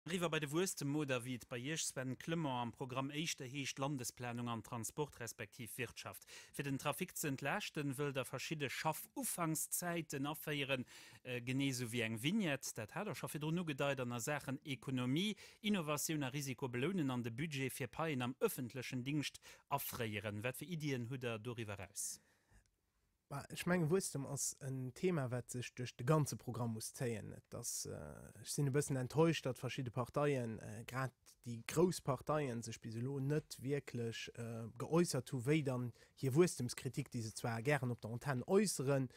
Eriwwer bei de Wuesstem oder, wéi et bei Iech, Sven Clement, am Programm éischter heescht, Landesplanung an Transport respektiv Wirtschaft. Fir den Trafic ze entlaaschten, wëllt Der verschidde Schaffufangszäiten aféieren, genee esou wéi eng Vignette, dat hat Der scho virdrun ugedeit, an a Saachen Ekonomie, Innovatioun a Risiko belounen an de Budget fir Paien am ëffentlechen Dingscht afréieren. Wat fir Iddien hutt Der doriwwer raus? Ech menge Wuesstem ass en Thema, wat sech duerch de ganze Programm muss zéien. Et ass, ech sinn e bëssen enttäuscht, datt verschidde Parteien, grad déi grouss Parteien, sech bis elo net wierklech geäussert hu wéi dann hir Wuesstemskritik, déi se zwar gären op der Antenn äusseren,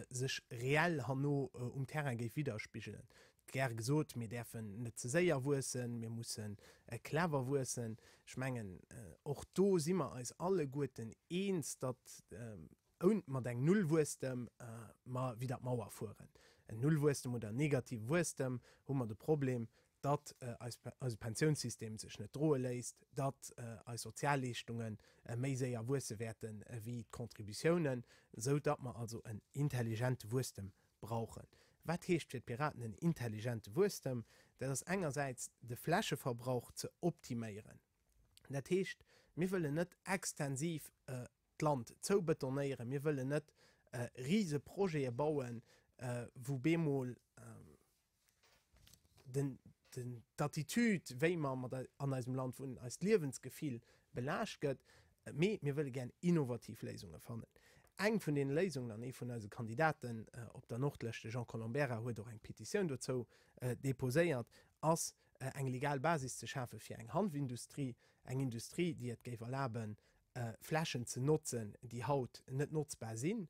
sech reell herno um Terrain géif widderspigelen. Gäre gesot, mir däerfen net ze séier wuessen, mir mussen clever wuessen. Ech mengen, och do si mer eis alleguerten eens, datt oun mat engem Nullwuesstem mer widder d'Mauer fueren. En Nullwuesstem oder en negative Wuesstem, hu mer de Problem, datt eise Pensiounssystem sech net droe léisst, datt eis Sozialleeschtunge méi séier wuesse wäerte wéi d'Contributiounen, esou datt mer also en intelligente Wuesstem brauchen. Wat heescht fir d'Piraten en intelligente Wuesstem? Dat ass engersäits de Flächeverbrauch ze optiméieren. Dat heescht, mir wëllen net extensiv d'Land zoubetonéieren, mir wëllen net rise Projete bauen, wou bemol den, den, d'Attitude, wéi mer mat ei, an eisem Land wunnen, eist Liewensgefill belaascht gëtt. Mee mir wëlle gären innovativ Léisunge fannen. Eng vun deene Léisungen, an ee vun eise Kandidaten op der Nordlëscht, de Jean Colombera, huet och eng Petitioun dozou deposéiert, ass eng legal Basis ze schafe fir eng Hanfindustrie, eng Industrie, déi et géif erlaben, Flächen ze notzen, déi haut net notzbar sinn.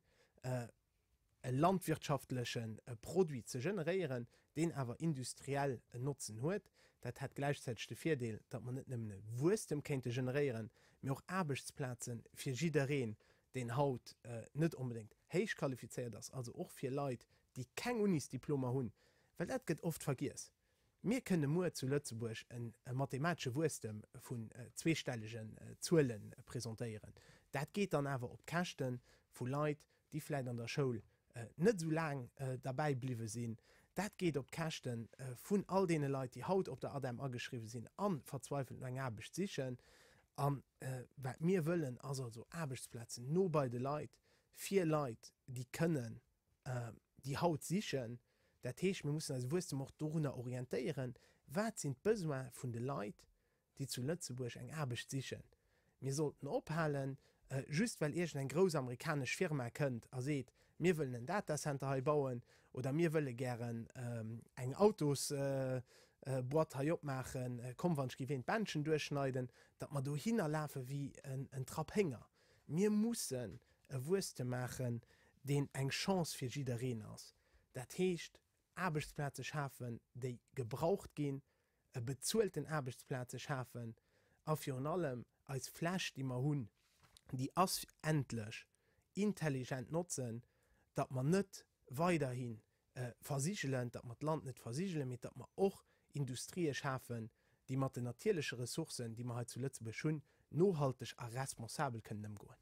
e landwirtschaftleche Produit ze generéieren, deen awer industriell en Notzen huet. Dat hätt gläichzäiteg de Virdeel, datt mer net nëmmen e Wuesstem kéinte generéieren, mee och Aarbechtsplaze fir jiddereen, deen haut net onbedéngt héichqualifizéiert ass, also och fir Leit, déi keng Unisdiplomer hunn, well dat gëtt oft vergiess. Mir kënne muer zu Lëtzebuerg e mathematesche Wuesstem vun zweestellegen Zuele presentéieren. Dat geet dann awer op d'Käschte vu Leit, déi vläicht an der Schoul net esou laang derbäi bliwwe sinn. Dat geet op d'Käschte vun all deene Leit, déi haut op der ADEM ageschriwwe sinn a verzweifelt no enger Aarbecht sichen. A wat mir wëllen, ass also Aarbechtsplazen no bei de Leit, fir Leit, déi kënnen déi haut sichen. Dat heescht, mir mussen eise Wuesstem och dorunner orientéieren, wat sinn d'Besoins vun de Leit, déi zu Lëtzebuerg eng Aarbecht sichen. Mir sollten ophalen, just well iergend eng grouss amerikanesch Firma kënnt a seet, mir wëllen en Datacenter hei bauen oder mir wëlle gären eng Autosboîte hei opmaachen, komm, wann ech géif een d'Bändchen duerchschneiden, datt mer dohinner lafe wéi en Trapp Hénger. Mir mussen e Wuesstem maachen, deen eng Chance fir jiddereen ass. Dat heescht, Aarbechtsplaze schafen, déi gebraucht ginn, e bezuelten Aarbechtsplaze schafen a virun allem eis Fläch, déi mer hunn, déi ass endlech, intelligent notzen, datt mer net weiderhin versigelen, datt mer d'Land net versigelen, mee datt mer och Industrië schafen, déi mat den natierleche Ressourcen, déi mer hei zu Lëtzebuerg hunn, nohalteg a responsabel kënnen ëmgoen.